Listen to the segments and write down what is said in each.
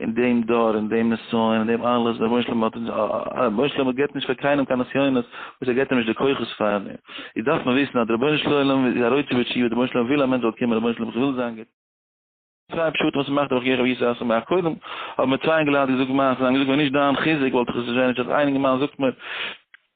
אין דעם דור, אין דעם נסיון, אין דעם אלעס, דער רבונו של עולם האט אונז, רבונו של עולם געבט נישט פאר קיינעם קיין נסיונות וואס ער געבט אים נישט די כוחות פאר, איז דארף מען וויסן אז דער רבונו של עולם איז א רוצה ושיהיה, דער רבונו של עולם וויל א מענטש זאל קומען, רבונו של עולם איך וויל זיין גוט, צוויי פשטים וואס מ'מאכט דורך יעקב ישרא' אסור מאח, קודם האבן מיר צוויי אינגעלייט געזאגט מעשה'ס, זיי האבן געזאגט ווען נישט דיין חיזוק וואלט איך עס נישט ווען נישט אז איין אינגערמאן זאגט מיר,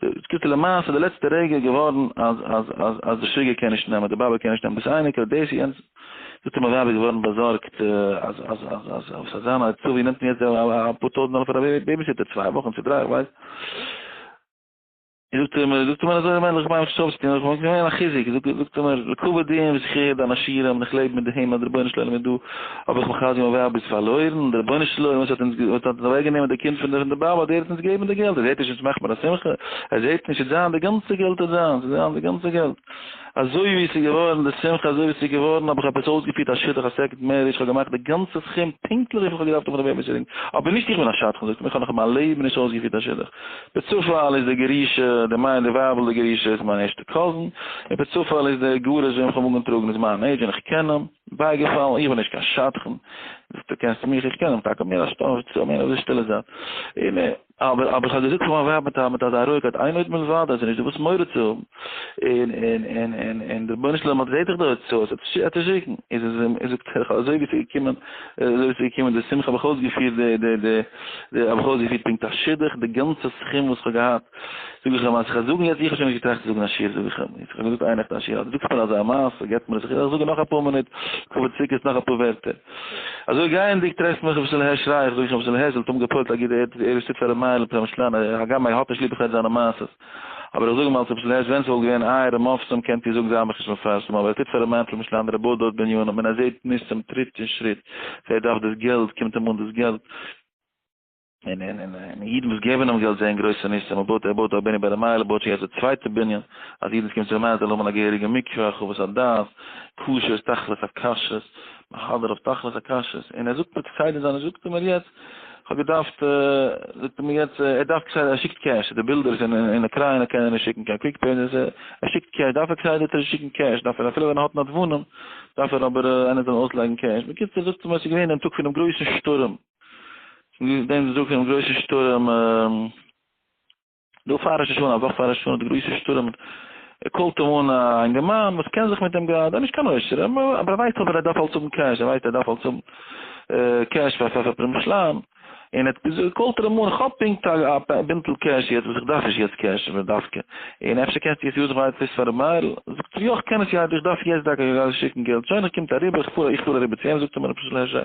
ס קיצור למעשה די לעצטע רגע געווארן אז אז אז אז די שוגע קען נישט נעמען די באבע קען נישט נעמען דאס אייניקעל דאס יענץ זאגט אים א ווייב איז געווארן באזארגט אז אז אז אז וואס אזאנע א עצה ווי נעמט מען יעצט אפאר טויזנט דאלער פאר א בעיביסיטער צוויי וואכן צו דריי איך ווייס זאגט אים זאגט אים אזוי מענדל איך מיין וואס שרייבסטו איך וואלט געווען א חיזוק זאגט אים לקבל דין וזכיה דאנאשירם איך לעב מיט דעם אז די רבונו של עולם איז דא. האב איך מיך אלץ געוואלט ווער ביסט פארלוירן, דער רבונו של עולם וואס האט אונז וואס האט אוועק גענומען די קינד פון די באבע דער האט אונז געגעבן די געלט ער זעט נישט אונז מאכט מיר א שמחה ער זעט נישט עס זיין די גאנצע געלט עס זיין עס זיין די גאנצע געלט אזוי ווי עס איז געווארן די שמחה אזוי ווי עס איז געווארן האב איך עפעס אויסגעפירט א שידוך א סעקונד מער איך האב געמאכט די גאנצע סכום פונקטליך וויפיל איך האב געדארפט פון רבי אביש רינג אבער נישט איך בין א שדכן זאגט ער מיר איך האב נאך אין מיין לעבן נישט אויסגעפירט א שידוך בצופאל איז די גרושה די מיין די ווייבל די גרושה איז מיין ערשטע קאזין און בצופאל איז די גרוש וועם איך האב אנגעטראגן איז מיין עידזש און איך קען אים בייגעפאלן, איך בין נישט קיין שדכן, דו קענסט מיך, איך קען אים טאקע מער א שטאף, צו מער אזוי שטילע זייט, און אבער אבער איך האב געזאגט פאר מיין ווייב מיט א מיט אזא רואיגקייט איין עוד מלבד אז עס איז נישט דא וואס מורא צו האבן, און און און און און דער רבונו של עולם האט זעט איך דא עצות עס צו שיקן, איז איז אים איז זאגט ער אזוי ווי עס איז געקומען אזוי ווי עס איז געקומען די שמחה האב איך אויסגעפירט די די די די האב איך אויסגעפירט פונקט א שידוך די גאנצע סכום וואס איך האב געהאט. זאג איך אים אז איך וועל זאגן יעצט, איך האב שוין נישט געטראכט צו זאגן א שיעור, זאג איך אים, יעצט איך האב געזאגט איין נאכט א שיעור, אז דו זאגסט מיר אזא מעשה, געבט מיר עס, איך זאג נאך אפאר מינוט, קאווע ציקערס, נאך אפאר ווערטער. אזוי גייענדיג טרעפט מיך רבי ישראל הערש שריי איך, זאג איך אים, רבי ישראל הערש זל האט אויבן געפועלט א גוט, ער איז שטאט פאר ר' מאיר'ל פרעמשלאן, הגם ער האט נישט ליב איך הער זיינע מעשות, אבער איך זאג אים אלס רבי ישראל הערש ווען ס'וואלט געווען אייערע מופתים קענט איר זאגן זיי האבן מיך נישט מפרסם, אבער ער טוט פאר ר' מאיר פרעמשלאן און ר' בועט דארט בנינים און ער זעט נישט צום טריט און שריט, ווער דארף דאס געלט, קומט אים אן דאס געלט. און און און און אידן וואס געבן אים געלט זעען גרויסע ניסים, ער בויט ער בויט א בנין ביי די מייל, ער בויט שוין יעצט די צווייטע בנין, אז אידן וואס קומען צו די מייל זאלן האבן א געהעריגע מקווה, חוות הדעת, כשרות, תכלית הכשרות, מהדר אויף תכלית הכשרות, און ער זאגט מיר כסדר זיינע זאגט ער מיר יעצט, כ'האב געדארפט, זאגט ער מיר יעצט, ער דארף כסדר, ער שיקט קעש, די בילדער איז אין אין אוקריינע קען ער נישט שיקן קיין קוויק פעי, ער שיקט קעש, דארף ער כסדר צו שיקן קעש, דארף ער אפילו ווען ער האט נדבנים, דארף ער אבער איינער זאל אים אויסלייגן קעש, בקיצור זאגט ער מיר עס איז געווען דעם טאג פונעם גרויסן שטורעם. געוויס דעם צדקן גרויסע שטורעם דא פאר ראש השנה, א וואך פאר ראש השנה די גרויסע שטורעם קאלט אים אן א אינגערמאן וואס קען זיך מיט דעם געלט, ער איז נישט קיין עושר אבער ער ווייסט אבער ער דארף אלס האבן קעש, ער ווייסט ער דארף אלס האבן קעש פאר פאר פרום שלאן, און עטס געזאגט קאלט ער אים אן איך האב פונקט א בינטל קעש יעצט וואס איך דארף נישט יעצט קעש אבער דווקא און אפשר קענסטו עס יוזן פאר עטוואס פאר ר' מאיר'ל, זאגט ער יא איך קען עס יא איך דארף יעצט דוקא שיקן געלט שוין ער קומט אריבער איך פאר איך פאר אריבער צו אים זאגט ער מיר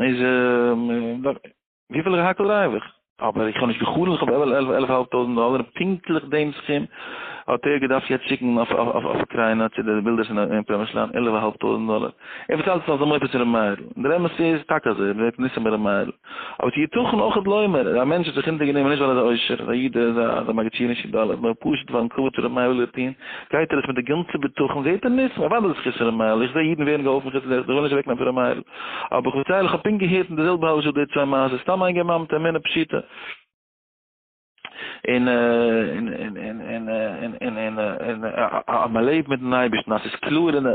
איז וויפיל איך האקל דרייוו איך אבער איך האב נישט געחלומט איך האב עלף עלף עלף האלב טויזנט דאלער פונקטליך דעם סכום האט ער געדארפט יעצט שיקן אויף אויף אויף אוקריינא צו די בילדערס אין פרעמישלאן עלף האלב טויזנט דאלער ער באצאלט עס אלס א מופת צו ר' מאיר'ל און דער אמת איז טאקע אזוי ער ווערט ניסים ביי ר' מאיר'ל אבער ס'איז יתכן אויך אז לא מיר א מענטש האט זיך אונטערגענומען נישט ווייל ער איז א עושר איז א איד איז א מגדשי נישט אין דאלער נאר פשוט ווייל אין כבוד פון ר' מאיר'ל וויל ער טון גייט ער עס מיט די גאנצע בטחון זעהט ער ניסים אוודאי איז עס חסד ר' מאיר'ל איך זעה אידן ווערן געהאלפן חוץ איך וויל נישט אוועקנעמען פון ר' מאיר'ל אבער כ'וועל ציילן, כ'האב פונקט געהערט אין די זעלבע הלשער די צוויי מעשות, סתם איין גמרא מיט אמונה פשוטה, און אז מ'לעבט מיט'ן אייבערשטן, אז ס'איז קלאר, און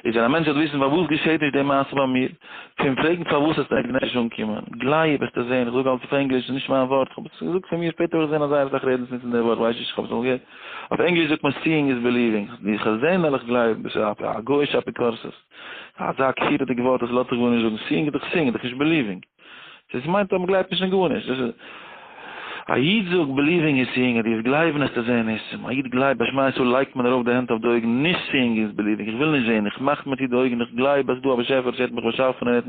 ווען א מענטש וועט וויסן פארוואס געשעט נישט די מעשה ביי מיר, קום פרעגן פארוואס עס מעג נישט אנקומען, גלייב וועסטו זען, כ'זאג אלץ אויף ענגליש, ס'איז נישט מיין ווארט, כ'האב עס געזאגט פון מיר, שפעטער האב איך געזען אז זייער אסאך רעדן עס נוצן די ווארט, כ'ווייס נישט, כ'האב עס אמאל געהערט, אויף ענגליש זאגט מען סיאינג איז ביליווינג, ווי כ'זע נעל איך גלייבן, דאס איז א גוי'אישע אפיקורסות. אזא כפירה'דיג ווארט אז לאט זיך גארנישט זאגן, סיאינג איז דאך סיאינג איז דאך נישט ביליווינג. דאס מיינט אז מ'גלייבט נישט אין גארנישט. דאס איז. א איד זאגט ביליווינג איז סיאינג אז דו וועסט גלייבן אז צו זען ניסים. א איד גלייבט ביי שמע ישראל לייגט מען ארויף די הענט אויף די אויגן, נישט סיאינג איז ביליווינג, איך וויל נישט זען, איך מאך מיר צו די אויגן, איך גלייב אז ס'דא א באשעפער וואס ער האט מיך באשאפן און ער האט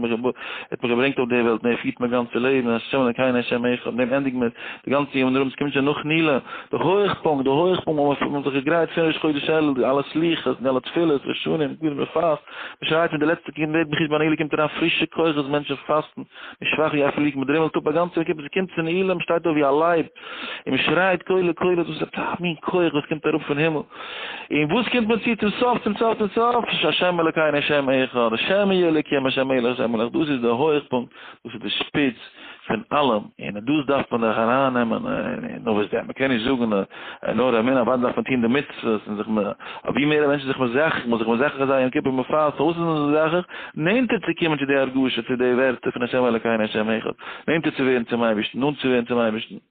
מיך געברענגט אויף די וועלט און ער פירט מיין גאנצע לעבן, השם אלוקינו השם אחד, דעם ענדיגן מיר. די גאנצע יום און ארום ס'קומט שוין נאך נילא, די הויכפונקט, די הויכפונקט וואו מ'האט זיך געגרייט פון ראש חודש אלול, די אלע סליחות, די אלע תפילות, ראשונים, גדרים מ'פאסט, מ'שרייט מיט די לעצטע קינד ווערט מחיש ביי נילא קומט אריין פרישע כוחות, מענטשן פאסטן, מ'איז שוואך ווי א פליג, מ'דרימלט אפ א גאנצע יום כיפור, ס'קומט צו נילא, מ'שטייט אויף ווי א לייב און מ'שרייט קולות קולות, דאס איז א מין כוח וואס קומט אראפ פון הימל, און וואס קומט מען צו צום סוף צום סוף צום סוף, השם אלקינו השם אחד, השם יהיה אלקים השם מלך השם מלך, דאס איז די הויכפונקט. דאס איז די שפיץ פון אלעם, און דאס דארף מען דאך ארייננעמען, נו וואס דען, מען קען נישט זאגן נאר אמונה, אוודאי דארף מען טון די מצוות, און זיך מ א, ווי מער א מענטש איז זיך מזכך, מ'זאל זיך מזכך זיין יום כיפור מפאר, פארוואס איז מען זיך מזכך? נענטער צו קומען צו די הרגשה, צו די ווערטער פון ה' אלוקינו ה' אחד, נענטער צו ווערן צום אייבערשטן, נאנט צו ווערן צום אייבערשטן.